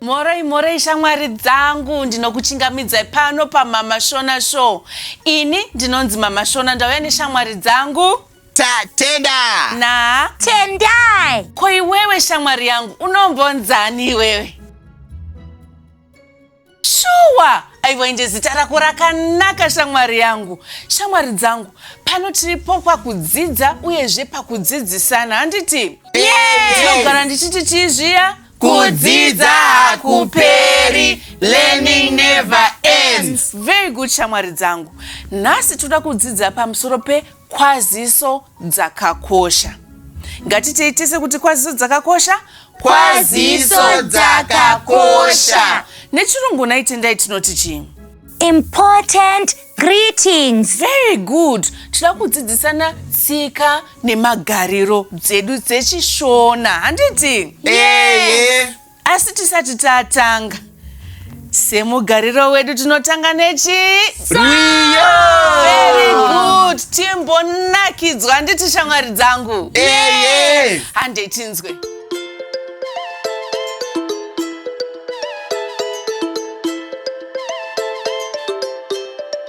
moroi moroi shamwari dzangu ndinokuchingamidzai pano pamama shona show ini ndinonzi mama shona ndauya neshamwari dzangu tatenda na tendai ko iwewe shamwari yangu unombonzani iwewe shuwa aiwa inje zita rako rakanaka shamwari yangu shamwari dzangu pano tiripo pakudzidza uyezve pakudzidzisana handiti ndinogara ndichiti chii zviya kudzidza hakuperi learning never ends very good shamwari dzangu nhasi toda kudzidza pamusoro pe Kwaziso dzakakosha. Ngatitei tese kuti kwaziso dzakakosha. Kwaziso dzakakosha. Nechirungu nhai Tendai tinoti chii? Important greetings. Very good. Tinoda kudzidzisana tsika nemagariro dzedu dzechishona. Handiti? Ehe. asi tisati tatanga semugariro wedu tinotanga nechii Rio! Very good. Timbonakidzwa handiti shamwari dzangu. Eye! Handei tinzwe.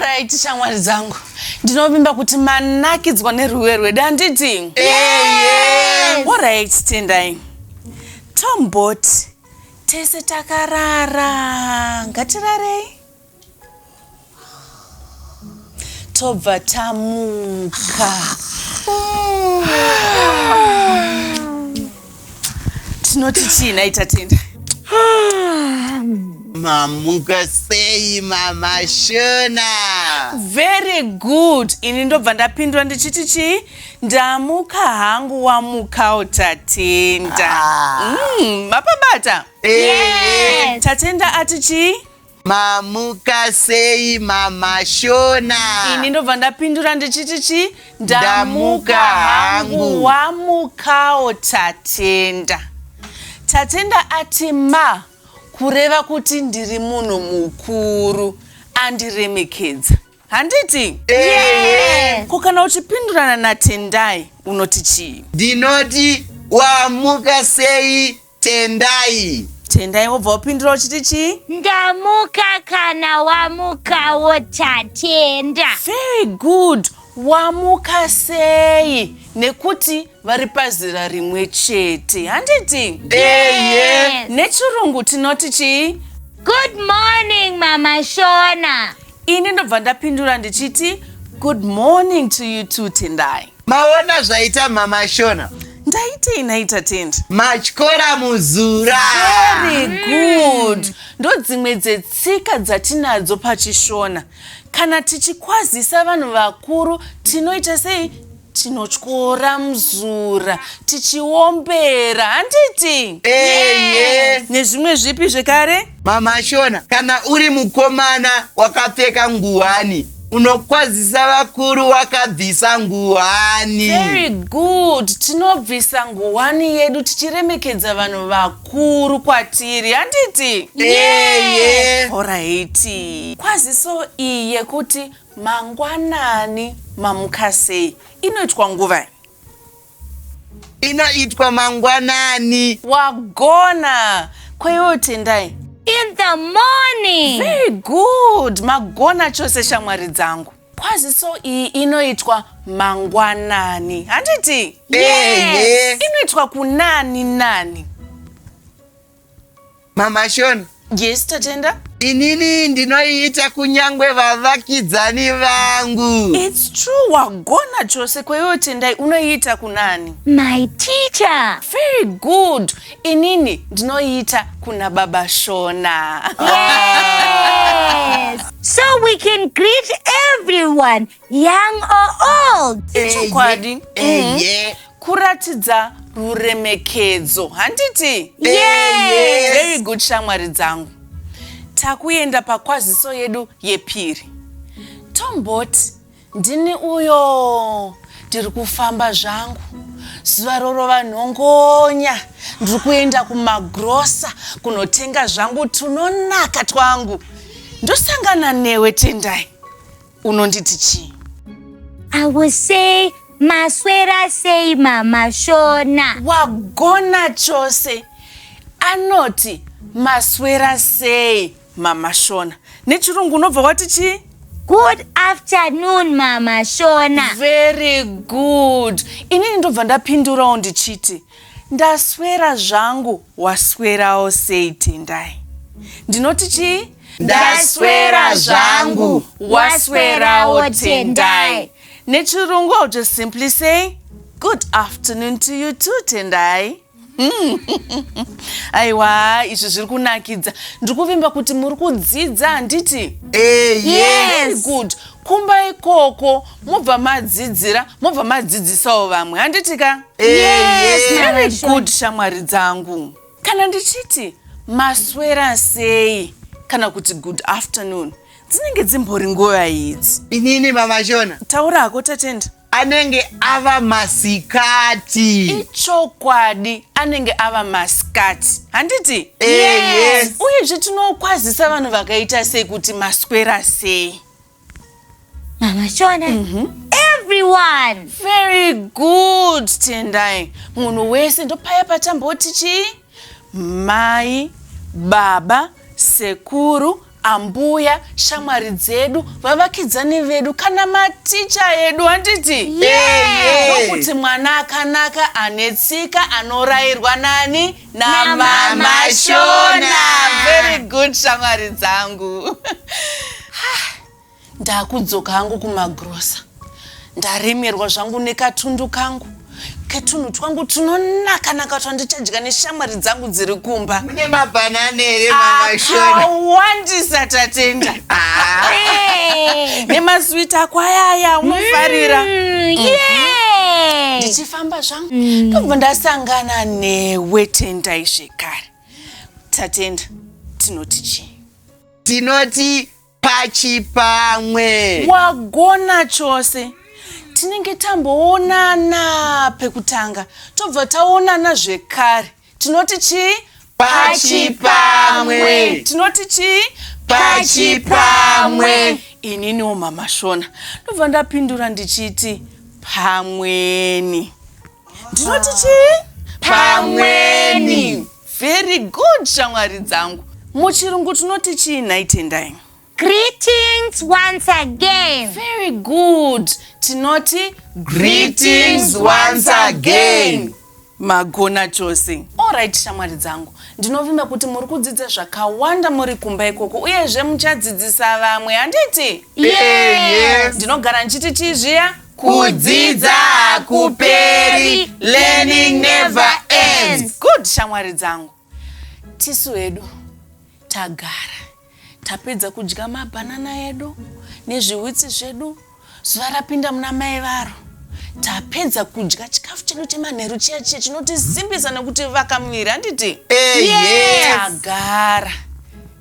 right shamwari dzangu ndinovimba kuti manakidzwa nerwiwe rwedu handiti orit tendai tomboti tese takarara ngatirarei tobva tamuka tinoti chii nhai tatenda mamuka sei mama shona very good ini ndobva ndapindura ndichiti chii ndamuka hangu wamukawo tatenda Ah. Mm, mapabata Yes. tatenda ati chii Mamuka sei mama Shona? Ini ndobva ndapindura ndichiti chi ndamuka hangu wamukawo Tatenda. Tatenda ati ma kureva kuti ndiri munhu mukuru andiremekedza. Handiti? Yes. Ko kana uchipindurana naTendai unoti chii? Ndinoti wamuka sei Tendai. Tendai wobva wapindura uchiti chii? Ndamuka kana wamukawo tatenda. Very good. Wamuka sei? Nekuti vari pazera rimwe chete. Handiti? Yes. Nechirungu tinoti chii? Good morning mama Shona. Ini ndobva ndapindura ndichiti good morning to you too Tendai. maona zvaita mama shona ndaitei nhai tatendi matyora muzura very good ndodzimwe dzetsika dzatinadzo pachishona kana tichikwazisa vanhu vakuru tinoita sei tinotyora muzura tichiombera handiti eye nezvimwe zvipi zvekare mama shona kana uri mukomana wakapfeka nguwani Unokwazisa vakuru wakabvisa nguwani. Very good. Tinobvisa nguwani yedu tichiremekedza vanhu vakuru kwatiri. Handiti? Yeah, yeah. Alright. Kwaziso iyi yekuti mangwanani mamuka sei inoitwa nguvai? Inoitwa mangwanani. Wagona. Ko iwewe Tendai? In the morning. Very good. Magona chose shamwari dzangu. Kwaziso iyi inoitwa mangwanani. Handiti? Ehe. Inoitwa kunani nani. Mama Shona. Yes, Tatenda. Inini ndinoiita kunyangwe vavakidzani vangu. It's true, wagona chose kwaiwewo Tendai unoiita kunani? My teacher. Very good. Inini ndinoiita kuna baba Shona. Yes. so we can greet everyone young or old ichokwadi mhm. kuratidza ruremekedzo handiti very good shamwari dzangu takuenda pakwaziso yedu yepiri tomboti ndini uyo ndiri kufamba zvangu zuva rorova nhongonya ndiri kuenda kumagrosa kunotenga zvangu tunonaka twangu ndosangana newe tendai Unonditi chii? I will say maswera sei mama Shona. Wagona chose. Anoti maswera sei mama Shona. Nechirungu unobva wati chii? Good afternoon mama Shona. Very good. Inini ndobva ndapindurawo ndichiti ndaswera zvangu waswerawo sei Tendai. Ndinoti chii? ndaswera zvangu waswerawo tendai nechirungu i'll just simply say good afternoon to you too tendai hmm. aiwa izvi zviri kunakidza ndiri kuvimba kuti muri kudzidza handiti eh, yes. good kumba ikoko mobva madzidzira mobva madzidzisawo vamwe handiti ka eh, very good shamwari dzangu Kana ndichiti maswera sei kana kuti good afternoon dzinenge dzimbori nguva idzi. Inini mama Shona. Taura hako Tatenda. Anenge ava masikati. Ichokwadi anenge ava masikati. Handiti? Eh, yes. Uye zve tinokwazisa vanhu vakaita sei kuti maswera sei. Mama Shona. Mm -hmm. Everyone. Very good, Tendai. Munhu wese ndopaya patamboti chii? Mai, baba, sekuru, ambuya shamwari dzedu vavakidzani vedu kana maticha edu handiti ndokuti mwana akanaka ane tsika anorairwa nani namama shona very good shamwari dzangu ndakudzoka hangu kumagrosa ndaremerwa zvangu nekatundu kangu ketunhu twangu tunonakanaka twandichadya neshamwari dzangu dziri kumba mune mabhanana here mamaakawandisa tatenda ah. nemaswiti ako ayaya unofarira mm, mm-hmm. ndichifamba zvangu mm. ndobva ndasangana newe tendai zvekare tatenda tinoti chii tinoti pachipamwe wagona chose tinenge tamboonana pekutanga tobva taonana zvekare tinoti chii pachipamwe tinoti chii pachipamwe ininiwo mama shona ndobva ndapindura ndichiti pamweni ndinoti chii pamweni very good shamwari dzangu muchirungu tinoti chii nhai tendai Greetings once again. Very good. Tinoti Greetings once again. Magona chose. Alright shamwari dzangu. Ndinovimba kuti muri kudzidza zvakawanda muri kumba ikoko uyezve muchadzidzisa vamwe handiti? Yeah, yes. Ndinogara ndichiti chii zviya? Kudzidza hakuperi. Learning never ends. Good shamwari dzangu. Tisu hedu tagara. Tapedza kudya mabhanana edu nezvihwitsi zvedu zuva rapinda muna mai varo. Tapedza kudya chikafu chedu chemanheru chiya chiya chinotisimbisa nekuti vaka muviri handiti? Tagara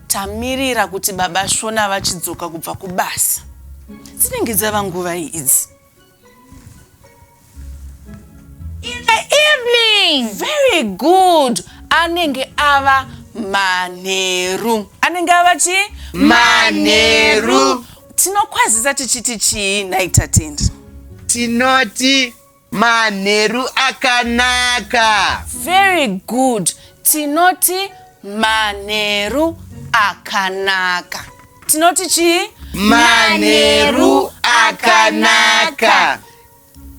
tamirira kuti baba Shona vachidzoka kubva kubasa. Dzinenge dzava nguvai idzi? In the evening. Very good. Anenge ava manheru. Anenge ava chi? Manheru. Tinokwazisa tichiti chii nhai Tatendi? Tinoti manheru akanaka. Very good. Tinoti manheru akanaka. tinoti chii manheru akanaka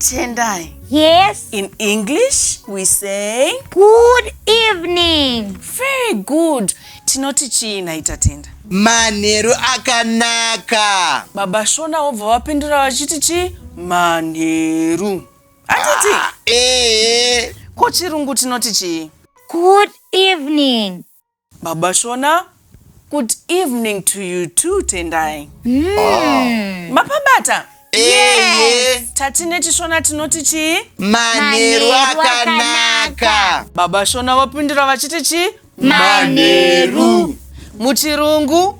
tendai Yes. in english we say Good evening. very good tinoti chii nhai tatenda manheru akanaka baba shona vobva vapindura vachiti chii manheru hatiti Ah, ee ko chirungu tinoti chii Good evening. Baba Shona good evening to you too Tendai. Mm. Mapabata? Eye. Tati nechishona tinoti chii? Manheru akanaka. Baba Shona vapindura vachiti chii? Manheru. Muchirungu?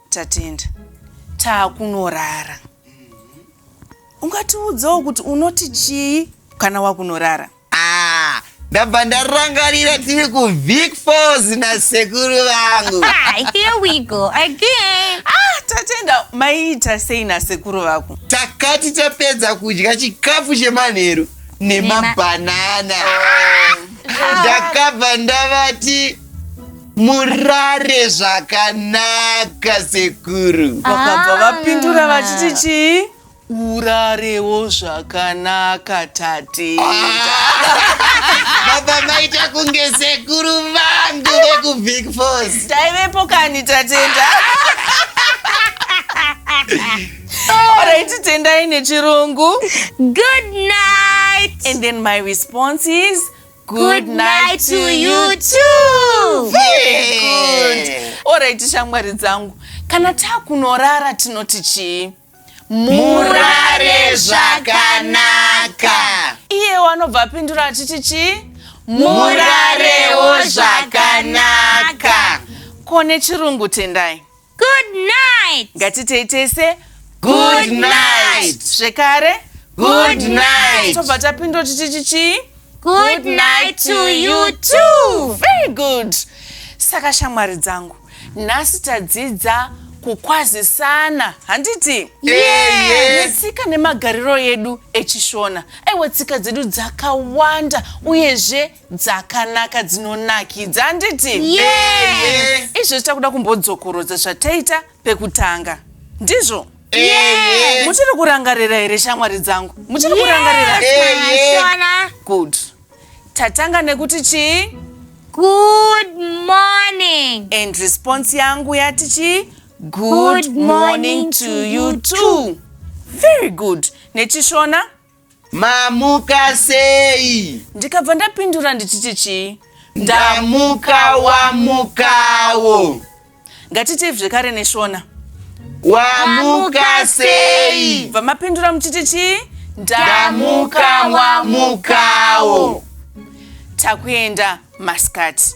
Tatenda. Taakunorara. Ungatiudzawo kuti unoti chii kana wakunorara? Ah, ndabva ndarangarira tiri kuvic falls nasekuru vangu ah, here we go again ah, tatenda maiita sei nasekuru vako takati tapedza kudya chikafu chemanheru nemabhanana oh. ndakabva ndavati murare zvakanaka sekuru vakabva ah. vapindura vachiti chii urarewo zvakanaka tatenda baba maita kunge sekuru vangu vekubig fos taivepo kani tatenda oraiti tendai nechirungu good night and then my response is Good night to you too. Very good. Alright shamwari dzangu. Kana takunorara tinoti chii? Murare zvakanaka. Iye wanobva apindura achiti chii? Murarewo zvakanaka. Kone chirungu tendai. Good night. Ngatitei tese Good night. Zvekare Good night. Tobva tapindwa tichiti chii? Good night to you too. Very good. Saka shamwari dzangu, nhasi tadzidza kukwazisana handiti Yeye. netsika nemagariro edu echishona aiwa tsika dzedu dzakawanda uyezve dzakanaka dzinonakidza handiti izvo zvichita kuda kumbodzokorodza zvataita pekutanga ndizvo muchiri kurangarira here shamwari dzangu muchiri kurangarira good tatanga nekuti chii good morning and response yangu yati chii good morning to you too very good nechishona Mamuka sei? Ndikabva ndapindura ndichiti chii? Ndamuka wamukawo. Ngatiitei zvekare neShona. Wamuka sei? Bva mapindura muchiti chii? Ndamuka wamukawo. Takuenda masikati.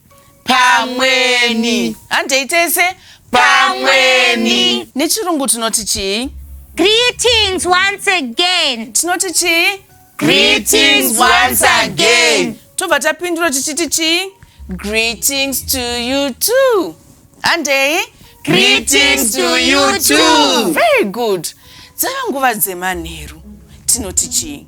pamweni handei tese pamweni nechirungu tinoti chii greetings once again tinoti chii greetings once again tobva tapindura tichiti chii greetings to you too handei greetings to you too very good dzava nguva dzemanheru tinoti chii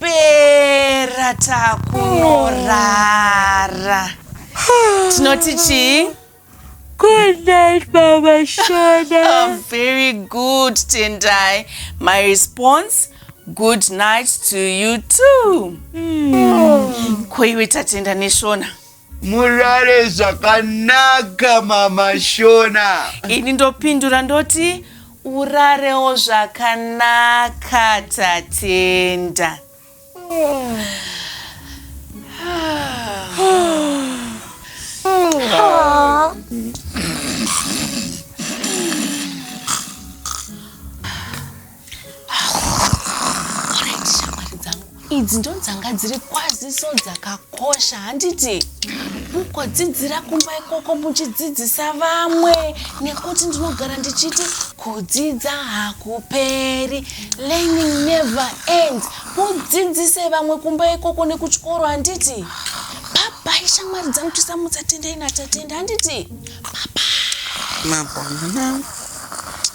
pera takunorara tinoti chii Good night, Mama Shona. Oh, very good, Tendai. My response, good night to you too. Mm. Koiwe tatenda neshona. murare zvakanaka mama shona ini ndopindura ndoti urarewo zvakanaka tatenda idzi ndo dzanga dziri kwaziso dzakakosha handiti mugodzidzira kumba ikoko muchidzidzisa vamwe nekuti ndinogara ndichiti kudzidza hakuperi learning never ends mudzidzise vamwe kumba ikoko nekuchikoro handiti babai shamwari dzangu tisamutsatendai natatenda handiti baba mabonana